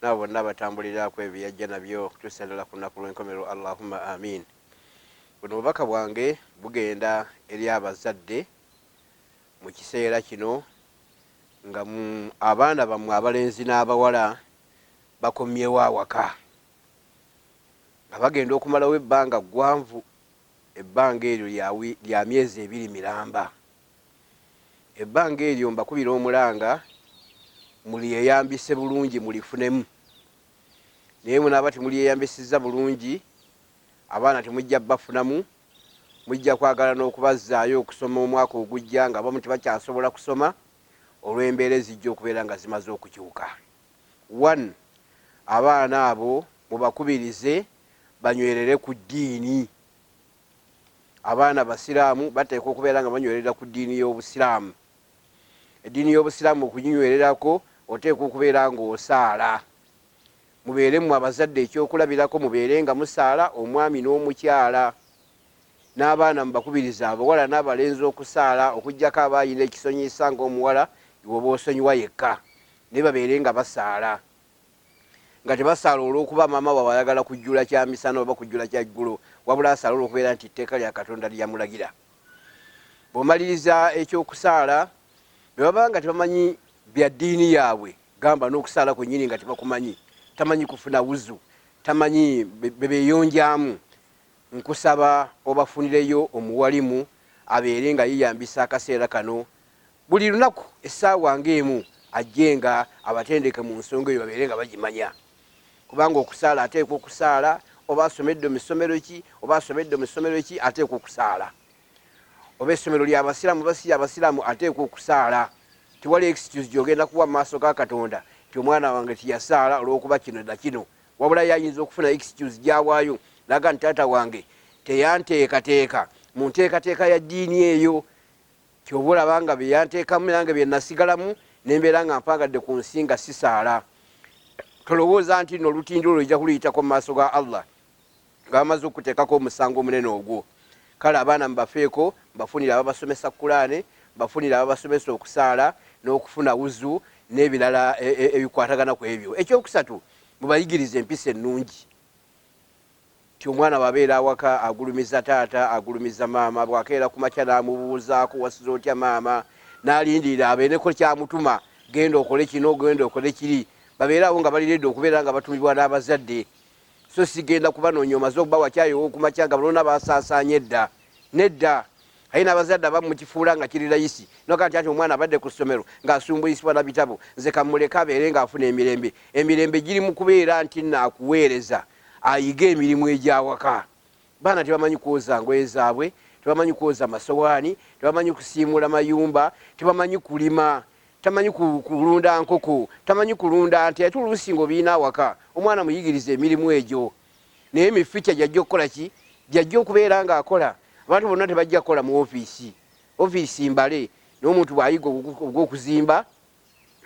nabo bonna abatambulira kwebyo byeyajja nabyo okutuusa ddala ku lunaku lw'enkomerero Allahumma Aamiin. Buno obubaka bwange bugenda eri abazadde mu kiseera kino nga mu abaana bammwe abalenzi n'abawala bakomyewo awaka nga bagenda okumalawo ebbanga ggwanvu ebbanga eryo lya myezi ebiri miramba. Ebbanga eryo mbakubira omulanga mulyeyambise bulungi mulifunemu naye bwemunaaba temulyeyambisizza bulungi abaana temujja bafunamu mujja kwagala n'okubazzaayo okusoma omwaka ogujja ng'abamu tebakyasobola kusoma olw'embeera ezijja okubeera nga zimaze okukyuka. One, abaana abo mubakubirize banywerere ku ddiini. Abaana Abasiraamu bateekwa okubeera nga banywerera ku ddiini y'Obusiraamu. Eddiini y'Obusiraamu okuginywererako oteekwa okubeera ng'osaala. Mubeere mmwe abazadde ekyokulabirako, mubeere nga musaala, omwami n'omukyala. N'abaana mubakubirize abawala n'abalenzi okusaala okuggyako aba alina ekisonyiyisa ng'omuwala iwe oba osonyiwa yekka, naye babeere nga basaala. nga tebasaala olw'okuba maama waabwe ayagala kujjula kya misana oba kujjula kya ggulo, wabula asaale olw'okubeera nti etteeka lya Katonda lye yamulagira. Bw'omaliriza eky'okusaala, bwe baba nga tebamanyi bya ddiini yaabwe, gamba n'okusaala kwennyini nga tebakumanyi, tamanyi kufuna wuzu, tamanyi be beeyonjaamu, nkusaba obafunireyo omuwalimu abeere nga yeeyambisa akaseera kano Buli lunaku essaawa nga emu ajjenga abatendeke mu nsonga eyo babeere nga bagimanya kubanga okusaala ateekwa okusaala oba asomedde mu ssomero ki oba asomedde mu ssomero ki ateekwa okusaala oba essomero lya basiraamu oba si ya basiraamu ateekwa okusaala tewali excuse gy'ogenda kuwa mu maaso ga Katonda nti omwana wange teyasaala olw'okuba kino na kino wabula ye ayinza okufuna excuse gy'awaayo n'aga nti taata wange teyanteekateeka mu nteekateeka ya ddiini eyo Ky'ova olaba nga bye yanteekamu nange bye nasigalamu ne mbeera nga mpaagadde ku nsi nga sisaala. Tolowooza nti nno olutindo olwo ojja kuluyitako mu maaso ga Allah nga bamaze okukuteekako omusango omunene ogwo. Kale abaana mubafeeko, mubafunire ababasomesa Kulaane, mubafunire ababasomesa okusaala n'okufuna wuzu n'ebirala ebikwatagana ku ebyo. Eky'okusatu, mubayigirize empisa ennungi. Nti omwana bw'abeera awaka agulumiza taata, agulumiza maama, bw'akeera ku makya n'amubuuzaako, wasuze otya maama, n'alindirira abeereko ky'amutuma, genda okole kino, genda okole kiri, babeere awo nga bali leedi okubeera nga batumibwa n'abazadde so si genda kubanoonya omaze okubawa caayi ow'oku makya nga bona baasaasaanye edda. Nedda! Ate n'abazadde abamu mukifuula nga kiri layisi n'ogamba nti anti omwana abadde ku ssomero ng'asumbuisibwa na bitabo, nze ka mmuleke abeere ng'afuna emirembe. Emirembe giri mu kubeera nti naakuweereza ayige emirimu egy'awaka. Baana tebamanyi kwoza ngoye zaabwe, tebamanyi kwoza masowaani, tebamanyi kusiimuula mayumba, tebamanyi kulima, tamanyi kulunda nkoko, tamanyi kulunda nte ate oluusi ng'obirina awaka. Omwana muyigirize emirimu egyo naye mi future gy'ajja okukola ki? Gy'ajja okubeera ng'akola. Abantu bonna tebajja kukola mu ofiisi, ofiisi mbale. Naye omuntu bw'ayiga ogw'okuzimba,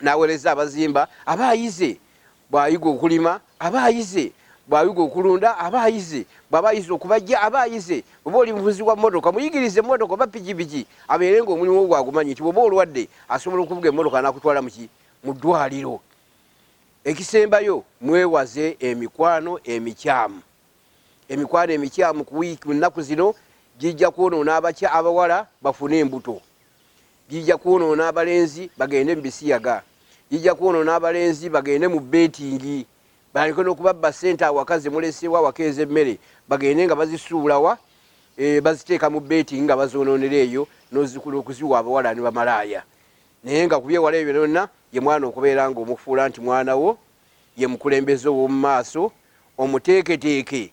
n'aweereza abazimba aba ayize, bw'ayiga okulima aba ayize, bw'ayiga okulunda aba ayize, bw'aba ayize okubajja aba ayize. Bw'oba oli muvuzi wa mmotoka, muyigirize mmotoka oba pikipiki abeere ng'omulimu ogwo agumanyi nti bw'oba olwadde asobola okuvuga emmotoka n'akutwala mu ki? Mu ddwaaliro. Ekisembayo mwewaze emikwano emikyamu. Emikwano emikyamu ku wiiki mu nnaku zino gijja kwonoona abakya abawala bafune embuto. Gijja kwonoona abalenzi bagende mu bisiyaga. Gijja kwonoona abalenzi bagende mu beetingi. Balyoke n'okubabba ssente awaka ze muleseewo awaka ez'emmere bagende nga bazisuula wa? Eeh, baziteeka mu beetingi nga bazoonoonera eyo n'ozikula okuziwa abawala ne bamalaaya. Naye nga ku by'ewala ebyo byonna ye mwana okubeera ng'omufuula nti mwana wo, ye mukulembeze ow'omu maaso, omuteeketeeke.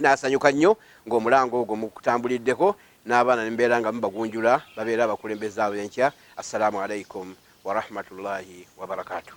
Nasanyuka nnyo ng'omulanga ogwo mukutambuliddeko n'abaana nemubeera nga mubagunjula babeere abakulembeze ab'enkya. Assalaamu Alaikum Warahmatullahi Wabarakatuh.